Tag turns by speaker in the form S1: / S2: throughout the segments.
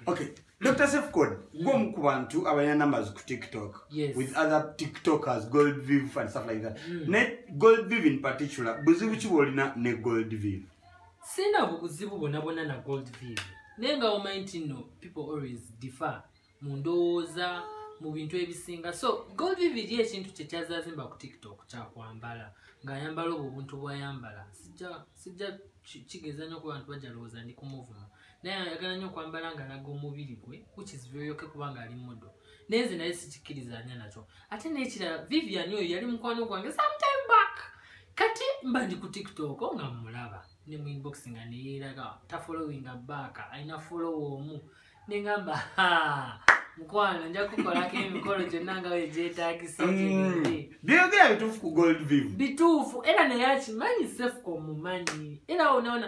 S1: okay dr sefcod gwomu ku bantu abalina numbers ku tiktok yes. with other tiktokers gold viv and stuff like that mm. ne gold viv in particular buzibu ki bwolina ne gold viv sina
S2: buzibu bonabona na gold viv naye nga omanyi nti no people always differ mu ndowooza mu bintu ebisinga so gold viv eri ekintu kyekyazazimba ku tiktok kyakwambala ngaayambala obwo obuntu bwayambala sijja kigeza nyo ku bantu bajalowooza ndi kumuvuma naye ayagala nyo okwambala nga alaga omubiri gwe which is very okay kubanga ali modo naye nze naye sikikkirizanya nakyo ate nekirala vivian oyo yali mukwano gwange sometime back kati mba ndi ku tiktok nga mmulaba ne mu inbox nga neyeeraga tafolowinga baaka alina folowa omu nengamba mukwano nja kukolako emikolo gyonna nga wegyetagisa mm. byogera bituufu ku
S1: gold viv bituufu era naye
S2: akimanyi sefuka omumanyi era onaona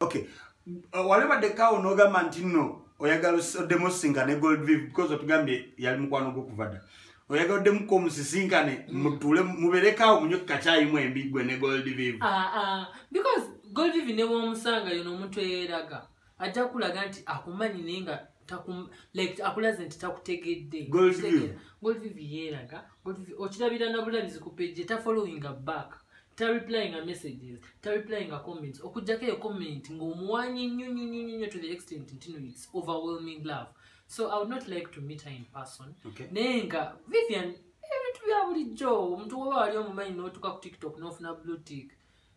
S1: okay uh, wali badde kawo nogamba nti no oyagala oddemu osinga ne gold viv because otugambye yali mukwano gwokuva dda oyagala oddemuko omusisinkane mm. mutule muberekawo munyo kukakyayi mwembi gwe ne gold viv ah, ah.
S2: because gold viv newomusanga yono omuntu eyeraga ajja kulaga nti akumanyi naye nga akulaze nti takutegedde okirabira nabulabizi ku page tafollowinga back tareplyinga messages tareplyinga comments okujjako eyo comment ngaomuwanyi nnyo nnyo nnyo nnyo to the extent ntino its overwhelming love so i would not like to meet her in person naye nga
S1: vivian
S2: ebintu bya bulijjo omuntu woba wali omumanyi notuka ku tiktok nofuna blue tick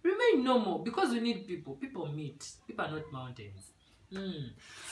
S2: remain normal because we need people people meet people are not mountains mm. so,